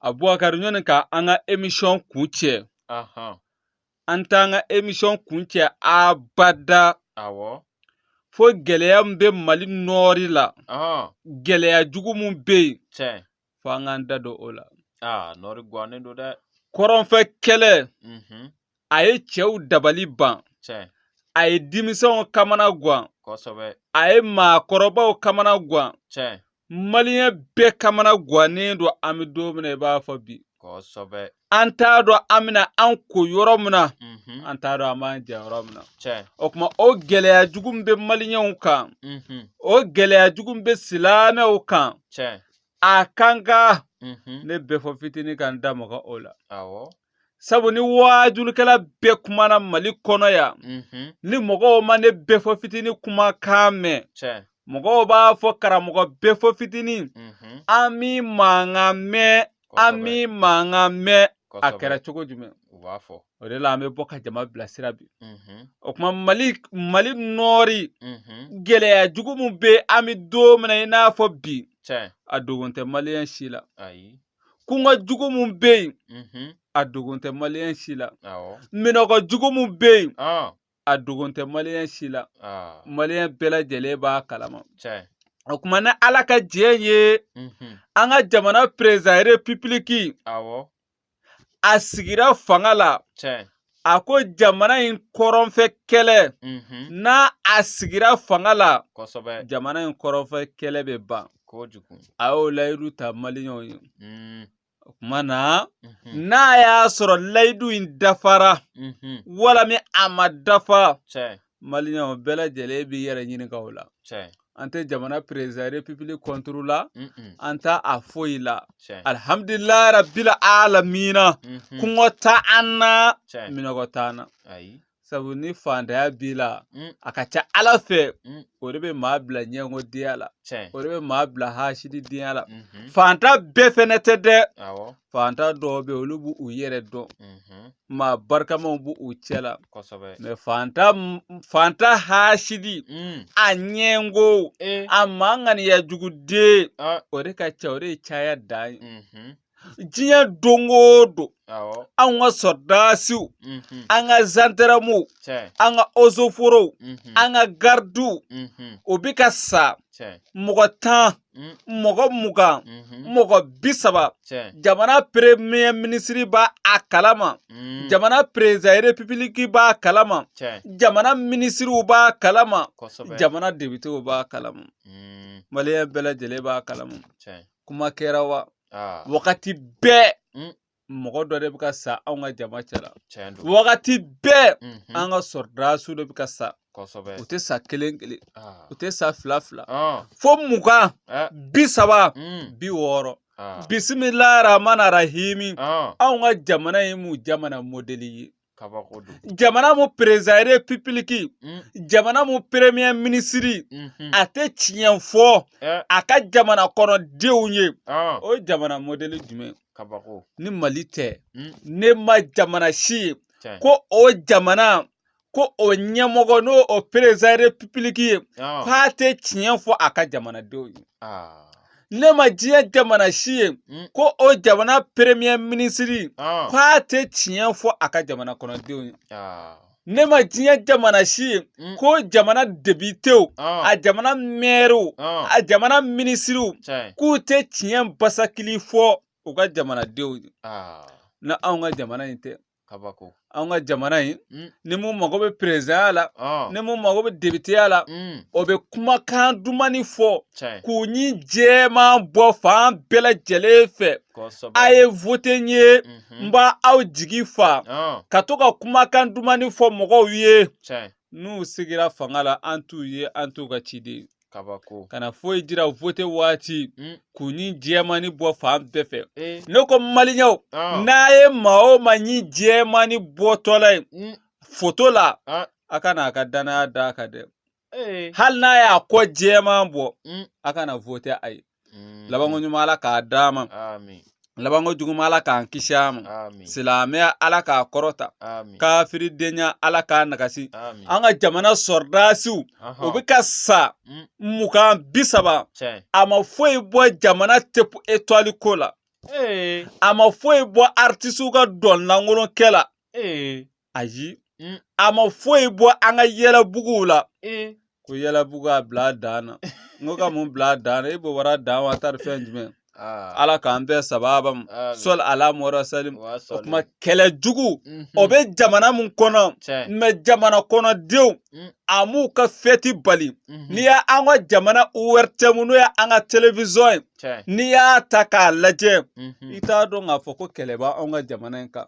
abubakari ɲɔni ka an ka emisɔn kuncɛ an t'an ka emisɔn kuncɛ abada awɔ fo gɛlɛya min bɛ mali nɔɔri la gɛlɛya jugu min bɛ yen fo an k'an da don o la nɔɔri gannen don dɛ kɔrɔnfɛ kɛlɛ mhm. a ye cɛw dabali ban a ye denmisɛnw kamana gan a ye maakɔrɔbaw kamana gan maliyɛn bɛɛ kamana gannen don an bɛ don min na i b'a fɔ bi an t'a dɔn an bɛna an ko yɔrɔ min na mhm. an t'a dɔn an b'an jɛ yɔrɔ min na o tuma o gɛlɛya jugu min bɛ maliyɛnw kan mhm. o gɛlɛya jugu min bɛ silamɛw kan a kan ka mhm. ne bɛɛfɔ fitinin ka n da maga o la sabu ni waajulikɛla bɛɛ kumana mali kɔnɔ yan mhm. ni mɔgɔw ma ne bɛɛfɔ fitini kumakan mɛn mɔgɔw b'a fɔ karamɔgɔ bɛɛfɔ fitini mhm. an m'i mankan mɛn an m'i mankan mɛn a kɛra cogo jumɛn u b'a fɔ o de la an bɛ bɔ ka jama bilasira bi mhm. o kuma mali mali nɔɔri mhm. gɛlɛya jugu min bɛ an bɛ don min na i n'a fɔ bi a dogon tɛ maliyɛn si la kɔngɔ jugu min bɛ yen a dogon tɛ maliyɛn si la minɔgɔ jugu min bɛ yen a dogon tɛ maliyɛn si la maliyɛn bɛɛ lajɛlen b'a kalama o kuma ni ala ka jɛ ye an ka jamana perezidan repibiliki a sigira fanga la a ko jamana in kɔrɔnfɛ kɛlɛ n'a sigira fanga la jamana in kɔrɔnfɛ kɛlɛ bɛ ban a y'o layidu ta maliyɛnw ye o tuma na n'a y'a sɔrɔ layidu in dafara walima a ma dafa maliyɛnw bɛɛ lajɛlen b'i yɛrɛ ɲininka o la an tɛ jamana perezidan repibiliki kɔnturu la an t'a foyi la alihamdulilayi rabila alamina mhm. kɔngɔ t'an na minɔgɔ t'an na sabu ni faantanya b'i la a ka ca ala fɛ o de bɛ maa bila ɲɛngodenya la o de bɛ maa bila hasididenya la mhm. faantan bɛɛ fɛnɛ tɛ dɛ faantan dɔw bɛ olu b'u yɛrɛ dɔn mhm. maa barikamaw b'u cɛ la kosɛbɛ mɛ faantan faantan hasidi mm. a ɲɛngo eh. a maa ŋaniya jugu den ah. o de ka ca o de ye caya dan ye mm -hmm. diɲɛ don o don anw ka sɔrɔdasiw mhm. an ka zandaramuw an ka ozoforow mhm. an ka garidiw mhm. o bɛ ka sa mɔgɔ tan Mm. mɔgɔ mugan mhm. mɔgɔ bi saba jamana premier minisiri b'a kalama mm. jamana perezidan repibiliki b'a kalama jamana minisiriw b'a kalama jamana depitew b'a kalama mm. maliyɛn bɛɛ lajɛlen b'a kalama kuma kɛra wa ah. wagati bɛɛ mɔgɔ dɔ de bɛ ka sa anw ka jama cɛla wagati bɛɛ mhm. an ka sɔrɔdasiw de bɛ ka sa u tɛ sa kelen kelen ah. u tɛ sa fila fila ah. fo mugan eh. bi saba mm. bi wɔɔrɔ ah. bisimila rahmani rahimi anw ka jamana ye mun jamana modɛli ye jamana mun perezidan repibiliki mm. jamana mun peremiye minisiri mm-hmm. a tɛ tiɲɛ fɔ eh. a ka jamana kɔnɔdenw ye ah. o jamana modɛli jumɛn ni mali tɛ mm. ne ma jamana si ye ko o jamana ko o ɲɛmɔgɔ n'o o perezidan repibiliki ye ah. k'a tɛ tiɲɛ fɔ a ka jamanadenw ye ah. ne ma diɲɛ jamana si ye mm. ko o jamana premier minisiri ah. k'a tɛ tiɲɛ fɔ a ka jamana kɔnɔdenw ye ah. ne ma diɲɛ jamana si ye mm. ko jamana depitew ah. a jamana mɛriw a jamana minisiriw k'u tɛ tiɲɛ basakili fɔ u ka jamanadenw ye n'anw ka jamana in tɛ kabako an ka jamana in mm. ni mun mago bɛ perezidanya la oh. ni mun mago bɛ depiteya la mm. o bɛ kumakan dumani fɔ k'u ɲin jɛman bɔ fan bɛɛ lajɛlen fɛ a ye vote n ye mhm. n b'aw jigi fa oh. ka to ka kumakan dumani fɔ mɔgɔw ye n'u sigira fanga la an t'u ye an t'u ka ciden kabako kana foyi jira vote waati mm. k'u ɲin jɛmani bɔ fan bɛɛ fɛ eh. ne ko maliyɛnw ah. n'a ye maa o maa ɲin jɛmani bɔtɔla ye mm. foto la ah. a kana a ka danaya d'a kan dɛ eh. hali n'a y'a kɔ jɛman bɔ mm. a kana vote a ye Mm. labanko ɲuman ala k'a d'an ma Amin. labanko juguman ala k'an kisi a ma Amin. silamɛya ala k'a kɔrɔta Amin. kafiridenya ala k'a nagasi Amin. an ka jamana sɔrɔdasiw Aha. u bɛ ka sa Mm. mugan bi saba Tiɲɛ. a ma foyi bɔ jamana tɔpu etwali ko la Ee. a ma foyi bɔ artisiw ka dɔn lankolon kɛ la Ee. ayi mm. a ma foyi bɔ an ka yɛlɛbuguw la eh. ko yɛlɛbugu a bila dan na n ko ka mun bila dan na e b'o wara dan wa taari fɛn jumɛn ah. ala k'an bɛɛ sababa mu sɔli ala mɔrɔ salim o kuma kɛlɛ jugu mhm. o bɛ jamana mun kɔnɔ mɛ jamana kɔnɔdenw mm. a m'u ka fɛti bali mhm. n'i y'an ka jamana ORTM n'o ye an ka televizɔn ye n'i y'a ta k'a lajɛ mhm. i t'a dɔn k'a fɔ ko kɛlɛ b'anw ka jamana in kan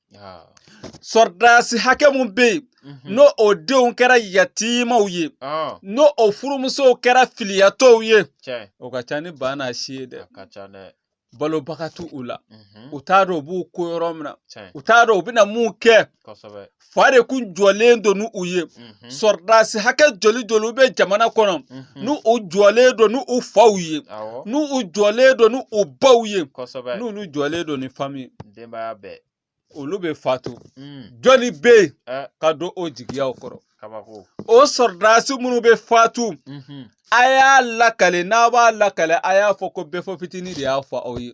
ah. sɔrɔdasi hakɛ mun bɛ yen mhm. n'o o denw kɛra yatimaw ye ah. n'o o furumusow kɛra filiyatɔw ye o ka ca ni ba n'a si ye dɛ balobaga t'u u la mhm. u t'a dɔn u b'u ko yɔrɔ min na u t'a dɔn u bɛna mun kɛ fa de kun jɔlen don ni u ye mm. Mhm. sɔrɔdasi hakɛ joli joli bɛ jamana kɔnɔ mhm. n'u u jɔlen don n'u u faw ye n'u u jɔlen don n'u u baw ye n'olu jɔlen don ni fami denbaya bɛɛ olu bɛ fatu mm. jɔni bɛ yen eh. ka don o jigiyaw kɔrɔ o sɔrɔdasi minnu bɛ fatu mhm. a y'a lakale n'a b'a lakale a y'a fɔ ko bɛɛfɔ fitinin de y'a fɔ aw ye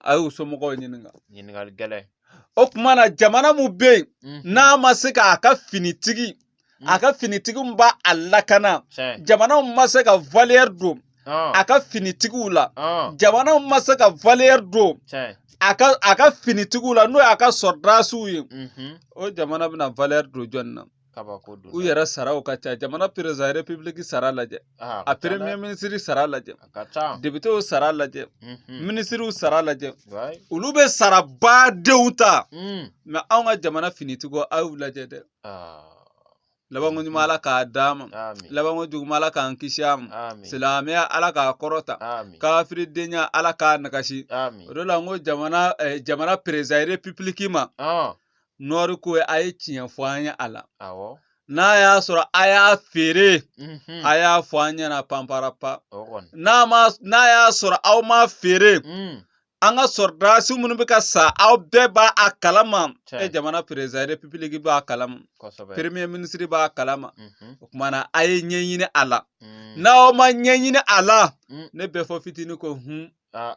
a y'u somɔgɔw ɲininka ɲininkali gɛlɛn o tuma na jamana mun bɛ yen mhm. n'a ma se k'a ka finitigi mhm. a ka finitigi min b'a a lakana jamana mun ma se ka valeur don ah. a ka finitigiw la ah. jamana mun ma se ka valeur don a ka a ka finitigiw la n'o y'a ka sɔrɔdasiw ye mhm. o jamana bɛna valeur don jɔni na kabako don u yɛrɛ saraw ka ca jamana perezan repibuliki sara lajɛ a peremiye minisiri sara lajɛ depitew sara lajɛ mhm. minisiriw sara lajɛ olu bɛ sarabadenw ta mm. mɛ anw ka jamana finitigiw a y'u lajɛ dɛ ah. labanko ɲuman ala k'a d'an ma labanko juguman ala k'an kisi a ma silamɛya ala k'a kɔrɔta kafiridenya ala k'a nagasi o de la n ko jamana eh, jamana perezan repibuliki ma ah. nɔri ko a ye tiɲɛ fɔ an ye a la n'a y'a sɔrɔ a y'a feere mhm. a y'a fɔ an ɲɛna panparapa n'a y'a sɔrɔ aw m'a feere mm. an ka sɔrɔdasi minnu bɛ ka sa aw bɛɛ b'a a kalama e jamana perezan repibuliki b'a kalama peremiye minisiri b'a kalama mhm. o tuma na a ye ɲɛɲini a la mm. n'aw ma ɲɛɲini a la mm. ne bɛɛfɔ fitinin ko hun ah.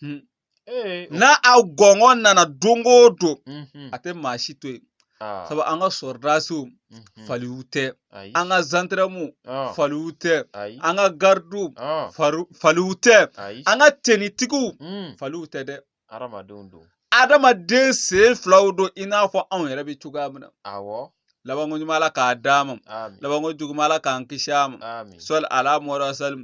Hmm. Eh, n'a aw gɔngɔn nana don o don mhm. a tɛ maa si to yen ah. sabu an ka sɔrɔdasiw mhm. faliw tɛ an ka zandaramuw ah. faliw tɛ an ka garidiw ah. faliw tɛ an ka tenitigiw mm. faliw tɛ dɛ adamaden sen filaw don i n'a fɔ anw yɛrɛ bɛ cogoya min na awɔ labanko ɲuman ala k'a d'an ma labanko juguman ala k'an kisi a ma sɔli ala mɔra sali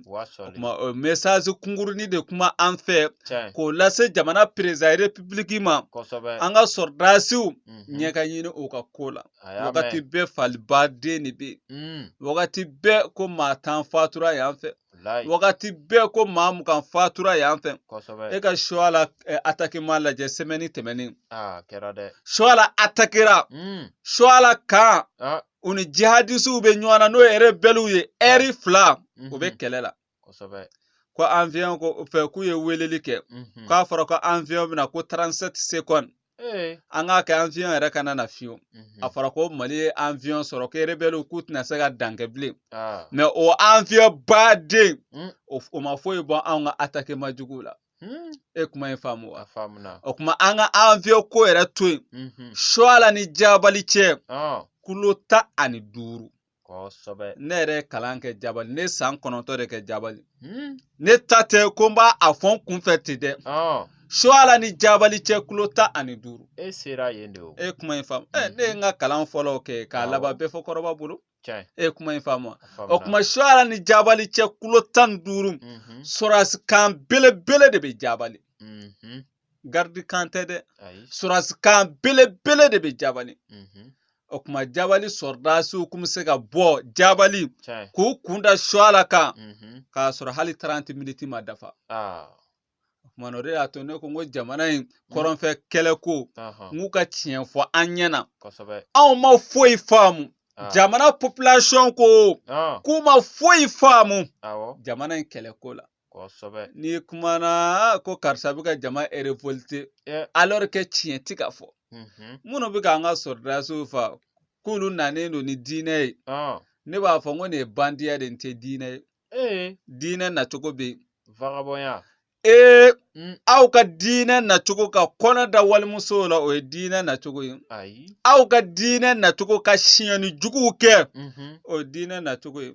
kuma o mesasi kunkurunnin de kuma an fɛ k'o lase jamana perezan repibuliki ma an ka sɔrɔdasiw mhm. ɲɛ ka ɲini o ka ko la wagati bɛɛ falibaden de bɛ yen mm. wagati bɛɛ ko maa tan fatura yan fɛ Walayi. wagati bɛɛ ko maa mugan fatura yan fɛ Kosɛbɛ. e ka shoala eh, atakeman lajɛ sɛmɛni tɛmɛnen Aa kɛra dɛ. shoala atakera Mm. shoala kan Ah. u ni jihadisiw bɛ ɲɔgɔn na n'o ye rebɛliw ye ɛri fila u bɛ Mhm. kɛlɛ la Kosɛbɛ. ko aviyɔn ko fɛ k'u ye weleli kɛ Mhm. k'a fɔra ko aviyɔn bɛna ko 37 secondes Ee. An k'a kɛ avion yɛrɛ kana na fiyewu a fɔra ko mali ye avion sɔrɔ ko erebɛliw k'u tɛna se ka dan kɛ bilen mɛ o avion baden hmm. o ma foyi bɔ anw ka atakeman jugu la hmm. e kuma in faamu wa o kuma an ka avion ko yɛrɛ to yen suala ni jabali cɛ kulo tan ani duuru kosɛbɛ ne yɛrɛ ye kalan kɛ jabali ne san kɔnɔntɔn de kɛ jabali hmm. ne ta tɛ ko n b'a fɔ n kunfɛ ten dɛ suala ni jabali cɛ kulo tan ani duuru e sera yen de o e kuma in faamu ɛ ne ye n ka kalan fɔlɔw kɛ k'a laban bɛɛfɔ kɔrɔba bolo e ye kuma in faamu o kuma suala ni jabali cɛ kulo tan ni duuru mhm. sɔrɔdasi kan belebele de bɛ jabali mhm. garidi kan tɛ dɛ sɔrɔdasi kan belebele de bɛ jabali mhm. o kuma jabali sɔrɔdasiw kun bɛ se ka bɔ jabali k'u kun da suala kan mhm. k'a sɔrɔ hali taranti miniti ma dafa ah. o kuma o de y'a to ne ko n ko jamana in mm. kɔrɔnfɛ kɛlɛ ko n k'u ka tiɲɛ fɔ an ɲɛ na anw ma foyi faamu Ah. jamana population ko ah. k'u ma foyi faamu jamana in kɛlɛko la kosɛbɛ n'i kumana ko karisa bɛ ka jama erevolte alors que tiɲɛ ti ka fɔ minnu bɛ k'an ka sɔrɔdasiw fa k'olu nanen don ni diinɛ ye ne b'a fɔ n ko nin ye bandiya de n tɛ diinɛ ye diinɛ nacogo bɛ yen vagabɔnya ee mm. aw ka diinɛ nacogo ka kɔnɔ da walimusow la o ye diinɛ nacogo ye aw ka diinɛ nacogo ka siɲɛni juguw kɛ mm-hmm. o ye diinɛ nacogo ye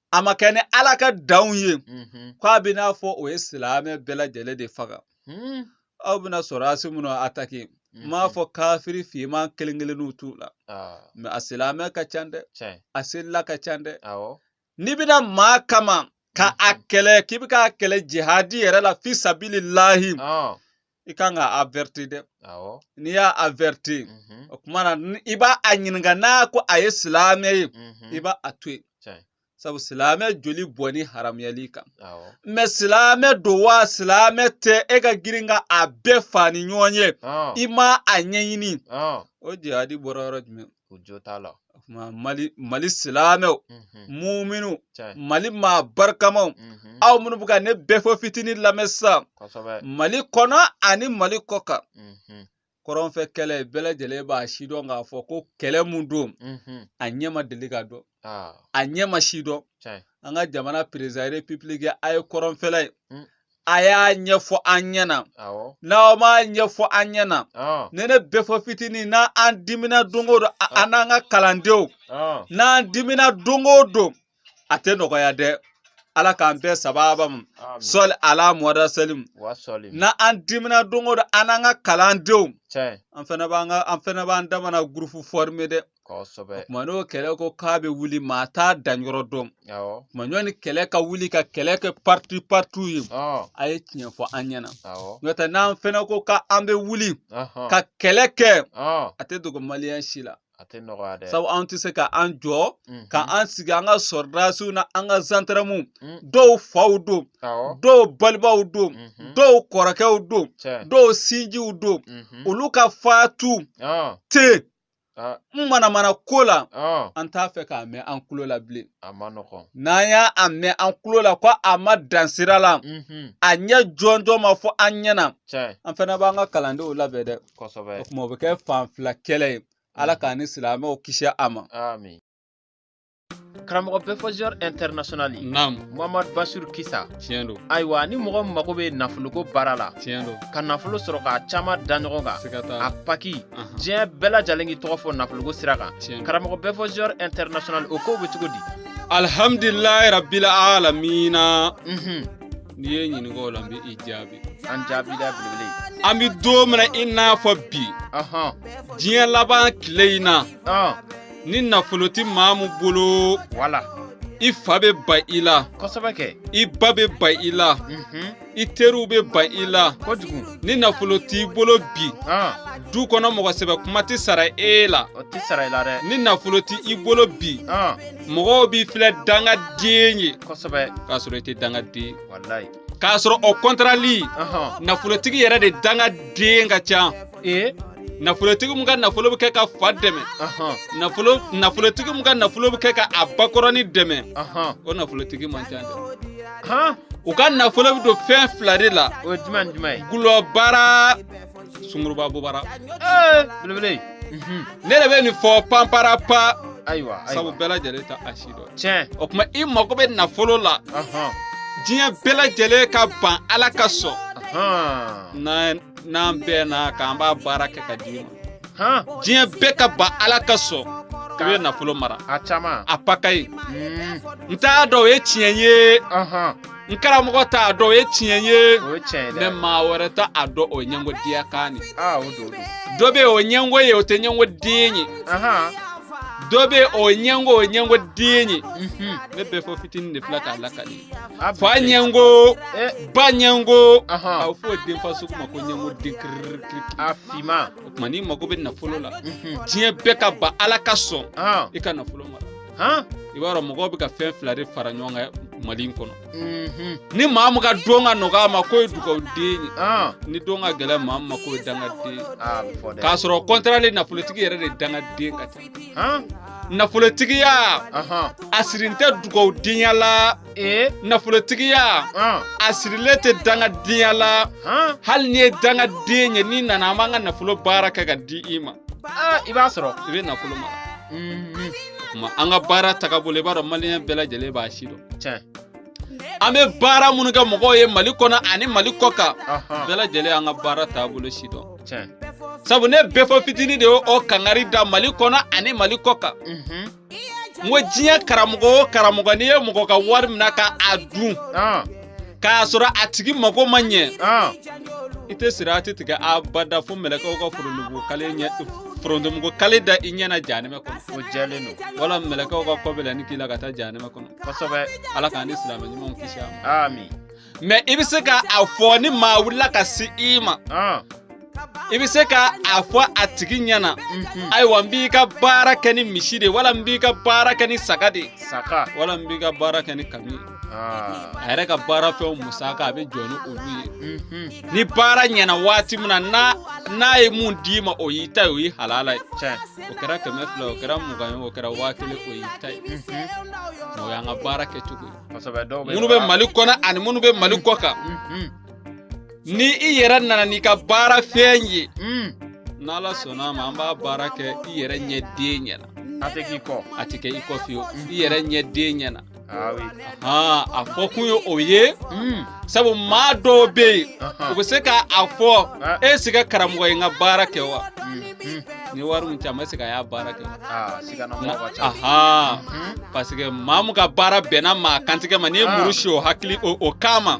a ma kɛ ni ala ka danw ye ko a bɛ n'a fɔ o ye silamɛ bɛɛ lajɛlen de faga aw bɛna sɔrɔdasi minnu atake n m'a fɔ kafiri finman kelen kelenninw t'u la mɛ a silamɛ ka ca dɛ a selila ka ca dɛ n'i bɛna maa kama ka a kɛlɛ k'i bɛ k'a kɛlɛ jihadi yɛrɛ la fi sabili lahi i kan ka averti dɛ n'i y'a averti mhm. o kuma na i b'a ɲininka n'a ko a ye silamɛ ye mhm. i b'a to yen sabu silamɛ joli bɔnni haramuyal'i kan mɛ silamɛ don wa silamɛ tɛ e ka girin ka a bɛɛ fa ni ɲɔgɔn ye i ma a ɲɛɲini o jihadi bɔra yɔrɔ jumɛn o jo t'a la o tuma mali mali silamɛw Mhm. muminu cɛ mali maa barikamaw Mhm. aw minnu bɛ ka ne bɛɛfɔ fitinin lamɛn sisan kosɛbɛ mali kɔnɔ ani mali kɔ kan Mhm. kɔrɔnfɛ kɛlɛ bɛɛ lajɛlen b'a sidɔn k'a fɔ ko kɛlɛ mun don Mhm. a ɲɛ ma deli ka dɔn Ah, a ɲɛ ma sidɔn cɛ an ka jamana perezidan repibiliki a ye kɔrɔnfɛla ye Mm. a y'a ɲɛfɔ an ɲɛna n'aw m'a ɲɛfɔ an ɲɛna ne bɛfɔ fitinin n'an dimina don o don an n'an ka kalandenw n'an dimina don o don a tɛ nɔgɔya dɛ ala k'an bɛɛ sababa ma sɔli ala muhamadu salim n'an dimina don o don an n'an ka kalandenw an fana b'an ka an fana b'an damana gurupu fɔrime dɛ kosɛbɛ kuma n'o kɛlɛ ko k'a bɛ wuli maa t'a danyɔrɔ dɔn kuma ɲɔni kɛlɛ ka wuli ka kɛlɛ kɛ parti parti ye a ye tiɲɛ fɔ an ɲɛna n'o tɛ n'an fɛnɛ ko ka an bɛ wuli ka kɛlɛ kɛ a tɛ dogo maliyɛn si la a tɛ nɔgɔya dɛ sabu an tɛ se ka an jɔ mhm. ka an sigi an ka sɔrɔdasiw n'an ka zandaramuw mm. dɔw faw don dɔw balimaw don mhm. dɔw kɔrɔkɛw don dɔw sinjiw don mhm. olu ka fatu te Ah. n manamana ko la ah. an t'a fɛ k'a mɛn an kulo la bilen n'an y'a mɛn an kulo la ko a ma dan sira la mhm. a ɲɛ jɔnjɔn ma fɔ an ɲɛna an fana b'an ka kalandenw labɛn dɛ o kuma o bɛ kɛ fan fila kɛlɛ ye ala mhm. k'an ni silamɛw kisi a ma karamɔgɔ bɛfɔ ziniyɔr ɛntɛrinasiyɔnali naam muhamadu basiru kisa tiɲɛ don ayiwa ni mɔgɔ mago bɛ nafoloko baara la tiɲɛ don ka nafolo sɔrɔ k'a caman da ɲɔgɔn kan siga t'a a paki Ahan. diɲɛ bɛɛ lajɛlen k'i tɔgɔ fɔ nafoloko sira kan tiɲɛ don karamɔgɔ bɛfɔ ziniyɔr ɛntɛrinasiyɔnali o kow bɛ cogo di alhamdulilayi rabila alamina Mhm. n'i ye n ɲininka o la n bɛ i jaabi an jaabi da belebele ye an bɛ don min na i n'a fɔ bi ɔhɔn diɲɛ laban tile in na ɔn ni nafolo tɛ maa min bolo wala i fa bɛ ban i la kosɛbɛ kɛ i ba bɛ ban i la i teriw bɛ ban i la kojugu ni nafolo t'i bolo bi du kɔnɔ mɔgɔ sɛbɛ kuma tɛ sara e la o tɛ sara i la dɛ ni nafolo t'i bolo bi mɔgɔw b'i filɛ dangaden ye kosɛbɛ k'a sɔrɔ i tɛ dangaden walayi k'a sɔrɔ o kɔntarali nafolotigi yɛrɛ de dangaden ka ca ee nafolotigi min ka nafolo bɛ kɛ ka fa dɛmɛ nafolotigi min ka nafolo bɛ kɛ ka a bakɔrɔni dɛmɛ o nafolotigi man ca dɛ u ka nafolo bɛ don fɛn fila de la o ye jumɛn jumɛn ye gulɔbara sunguruba bobara belebele ne de bɛ nin fɔ panpara pa ayiwa sabu bɛɛ lajɛlen t'a si dɔn tiɲɛ o kuma i mago bɛ nafolo la diɲɛ bɛɛ lajɛlen ka ban ala ka sɔn na n'an bɛɛ na k'an b'a baara kɛ ka d'i ma diɲɛ bɛɛ ka ban ala ka sɔn i bɛ nafolo mara a caman a paka ye hmm. n t'a dɔn o ye tiɲɛ ye n karamɔgɔ t'a dɔn o ye tiɲɛ ye mɛ maa wɛrɛ t'a dɔn o ɲɛngodenya kan de dɔ bɛ o ɲɛngo ye o tɛ ɲɛngo den ye dɔ bɛ o ɲɛngo o ɲɛngo den ye mhm. ne bɛfɔ fitinin de filɛ k'a lakali ba ɲɛngo eh. ba ɲɛngo a bɛ fɔ denfa sugu ma ko ɲɛngoden kirikiri a finma o tuma n'i mago bɛ nafolo la mhm. diɲɛ bɛɛ ka ban ala ka sɔn i ka nafolo mara i b'a dɔn mɔgɔw bɛ ka fɛn fila de fara ɲɔgɔn kan mali in kɔnɔ mhm. ni maa min ka don ka nɔgɔn a ma k'o ye dugawuden ye ni don ka gɛlɛn maa min ma k'o ye dangaden ye k'a sɔrɔ contraire nafolotigi yɛrɛ de dangaden ka ca nafolotigiya a sirin tɛ dugawudenya la nafolotigiya a sirilen tɛ dangadenya la hali n'i ye dangaden ye n'i nana an b'an ka nafolo baara kɛ ka di i ma i b'a sɔrɔ i bɛ nafolo mara mhm. an ka baara tagabolo i b'a dɔn maliyɛn bɛɛ lajɛlen b'a sidɔn an bɛ baara minnu kɛ mɔgɔw ye mali kɔnɔ ani mali kɔ kan bɛɛ lajɛlen an ka baara taabolo sidɔn sabu ne bɛɛ fɔ fitini de y'o o kangari da mali kɔnɔ ani mali kɔ kan mhm. n ko diɲɛ karamɔgɔ o karamɔgɔ n'i ye mɔgɔ ka wari minɛ ka a dun ah. k'a sɔrɔ a tigi mago ma ɲɛ ah. i tɛ sirati tigɛ abada fo mɛlɛkɛw ka forontomugu kale ɲɛ forontomugu kale da i ɲɛ na jahanɛmɛ kɔnɔ o jɛlen don wala mɛlɛkɛw ka kɔ bɛ la ni k'i la ka taa jahanɛmɛ kɔnɔ kosɛbɛ ala k'an ni silamɛ ɲumanw kisi a ma amin mais i bɛ se ka a fɔ ni maa wulila ka se i ma i bɛ se ka a fɔ a tigi ɲɛna mhm. ayiwa n b'i ka baara kɛ ni misi de wala n b'i ka baara kɛ ni saga de saga wala n b'i ka baara kɛ ni kami ah. a yɛrɛ ka baara fɛnw musaka a bɛ jɔ ni olu ye mhm. ni baara ɲɛna waati min na n'a ye mun d'i ma o y'i ta ye o y'i halala ye o kɛra kɛmɛ fila o kɛra mugan ye o kɛra waa kelen o y'i ta ye o y'an ka baara kɛcogo ye minnu bɛ mali kɔnɔ ani minnu bɛ mali kɔ kan ni i yɛrɛ nana n'i ka baara fɛn ye n'ala sɔnna a ma an b'a baara kɛ i yɛrɛ ɲɛden ɲɛna a tɛ k'i kɔ a tɛ kɛ i kɔ fiyewu i yɛrɛ ɲɛden ɲɛna a fɔ kun ye o ye hmm. sabu maa dɔw bɛ yen u bɛ se k'a fɔ est-ce que karamɔgɔ ye n ka baara kɛ wa hmm, hmm. ni wari min caman est-ce que a y'a baara kɛ parce que maa min ka baara bɛnna maa kantigɛ ma n'i ye muru si o hakili o kama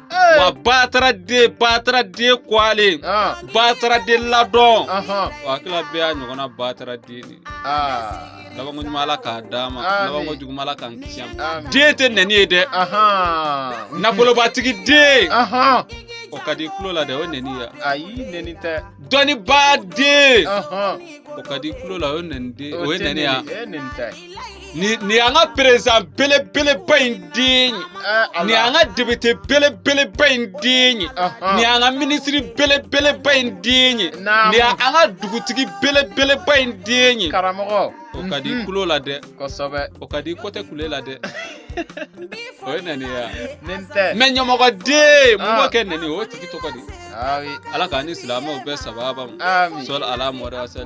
Eh. wa batara den batara den kwalen ah. batara den ladɔn wa hakilila bɛɛ y'a ɲɔgɔnna batara den de ah. labanko ɲuman ala k'a d'a ma labanko juguman ala k'an kisi a ma den tɛ nɛni ye dɛ nafolobatigi den o ka di kulo la dɛ o nɛni ya ayi nɛni tɛ dɔnnibaa den o ka di kulo la o nɛni den o ye nɛni ya Nin an ka perezidan belebeleba in den ye nin an ka depite belebeleba in den ye nin an ka minisiri belebeleba in den ye nin an ka dugutigi belebeleba in den ye karamɔgɔ o ka di tulo la dɛ o ka di kotɛ kule la dɛ o ye nani ye mɛ ɲɛmɔgɔ den mun b'o kɛ nani o tigi tɔgɔ di ala k'an ni silamɛw bɛɛ sababa ma sɔli ala mɔdasa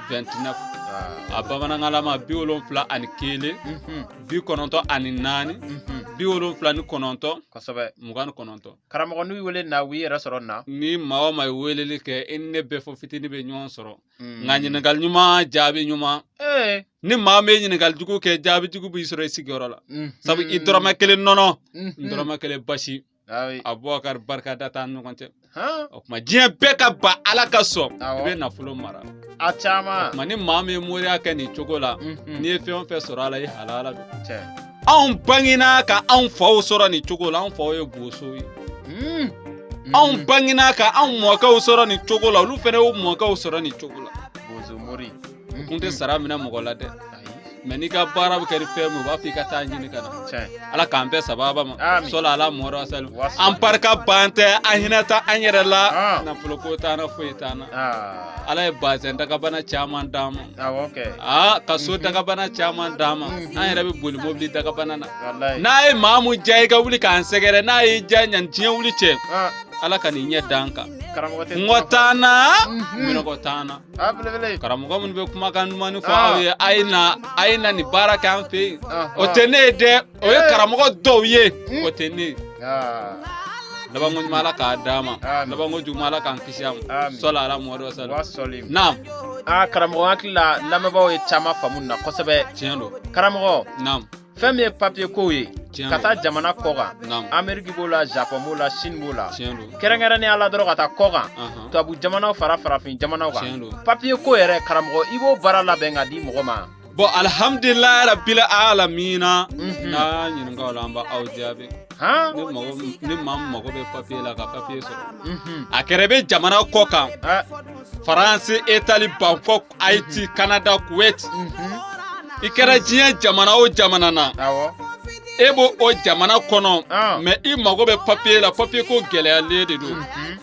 29 ah. a bamanankanlama bi wolonfila ani kelen mhm. bi kɔnɔntɔn ani naani mhm. bi wolonfila ni kɔnɔntɔn kosɛbɛ mugan ni kɔnɔntɔn karamɔgɔ n'u wele na u yɛrɛ sɔrɔ na ni maa o maa ye weleli kɛ i ni ne bɛɛ fɔ fitini bɛ ɲɔgɔn sɔrɔ mm. nka ɲininkali ɲuman jaabi ɲuman eh. ni maa min ye ɲininkali jugu kɛ jaabi jugu b'i sɔrɔ i sigiyɔrɔ la mhm. sabu i dɔrɔmɛ kelen nɔnɔ n dɔrɔmɛ kelen basi abubakari barika da t'an ɲɔgɔn cɛ o tuma diɲɛ bɛɛ ka ban ala ka sɔn i bɛ nafolo mara a caman o tuma ni maa min ye moriya kɛ nin cogo la mhm. n'i ye fɛn o fɛn sɔrɔ a la i halala don anw bangena ka anw faw sɔrɔ nin cogo la anw faw ye boso ye hmm. anw hmm. bangena ka anw mɔkɛw sɔrɔ nin cogo la olu fana y'u mɔkɛw sɔrɔ nin cogo la u kun tɛ sara minɛ mɔgɔ la dɛ mɛ n'i ka baara bɛ kɛ ni fɛn min u b'a fɔ i ka taa ɲini ka na ala k'an bɛɛ sababa ma sɔli ala muhamadu wa sali an barika ban tɛ an hinɛ ta an yɛrɛ la nafolo ko t'an na foyi t'an na ala ye bazɛn dagabana caman d'an ma aa ka so dagabana caman d'an ma an yɛrɛ bɛ boli mobili dagabana na n'a ye maa mun diya i ka wuli k'an sɛgɛrɛ n'a y'i diya ɲani diɲɛ wuli cɛ ala ka n'i ɲɛ d'an kan kɔngɔ t'an na minnɔgɔ t'an na karamɔgɔ minnu bɛ kumakan dumannin fɔ aw ye a ye na a ye na nin baara kɛ an fɛ yen o tɛ ne ye dɛ o ye karamɔgɔ dɔw ye o tɛ ne ye labanko ɲuman ala k'a d'an ma labanko juguman ala k'an kisi a ma sɔli ala muhamadu wa sali naam aa karamɔgɔ hakili la lamɛnbaaw ye caman faamu na kosɛbɛ tiɲɛ don karamɔgɔ naam fɛn min ye papiye kow ye ka taa jamana kɔ kan ameriki b'o la japɔn b'o la sini b'o la kɛrɛnkɛrɛnnenya la dɔrɔn ka taa kɔ kan tubabu jamanaw fara farafin jamanaw kan papiye ko yɛrɛ karamɔgɔ i b'o baara labɛn ka di mɔgɔ ma bɔn alihamdulilayi rabila alamina mhm. n'a ɲininka o la an b'aw jaabi ni maa min mago bɛ papiye la ka papiye sɔrɔ mhm. a kɛra i bɛ jamana kɔ kan faransi itali bankɔ Haïti, mhm. Canada, Kuwait. Mhm. I kɛra diɲɛ jamana o jamana na. I bɛ o jamana kɔnɔ. Ah. Mɛ i mago bɛ papiye la papiye ko gɛlɛyalen de don. Mhm.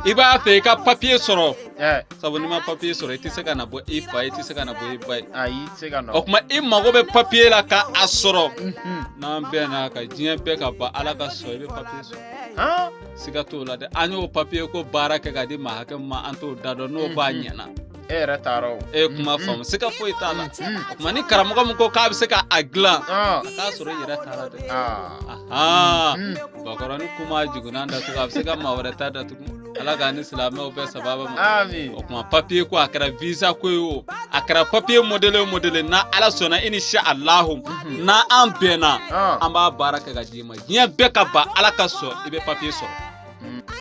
I b'a fɛ i ka papiye sɔrɔ. Eh. Sabu n'i ma papiye sɔrɔ i tɛ se ka na bɔ i fa ye i tɛ se ka na bɔ i ba ye. Ayi i tɛ se ka na. O tuma i mago bɛ papiye la ka a sɔrɔ. N'an bɛnn'a kan diɲɛ bɛɛ ka ban Ala ka sɔn i bɛ papiye sɔrɔ. siga t'o la dɛ an y'o papiye ko baara kɛ ka di maa hakɛ min ma an t'o da dɔn n'o b'a mm-hmm. ɲɛna e yɛrɛ taara o e kuma mm-hmm. faamu siga foyi t'a la mm-hmm. kuma ni karamɔgɔ min ko k'a bɛ se ka a dilan ah. a t'a sɔrɔ i yɛrɛ taara dɛ ah. bakɔrɔnin ku ma jukunan datugu a bɛ se ka maa wɛrɛ ta datugu ala k'an ni silamɛw bɛɛ sababa ma o kuma papiye ko a kɛra visa ko ye o a kɛra papiye modele o modele na ala sɔnna inshallahu mhm. na an bɛnna ah. an b'a baara kɛ ka d'i ma diɲɛ bɛɛ ka ban ala ka sɔn i bɛ papiye sɔrɔ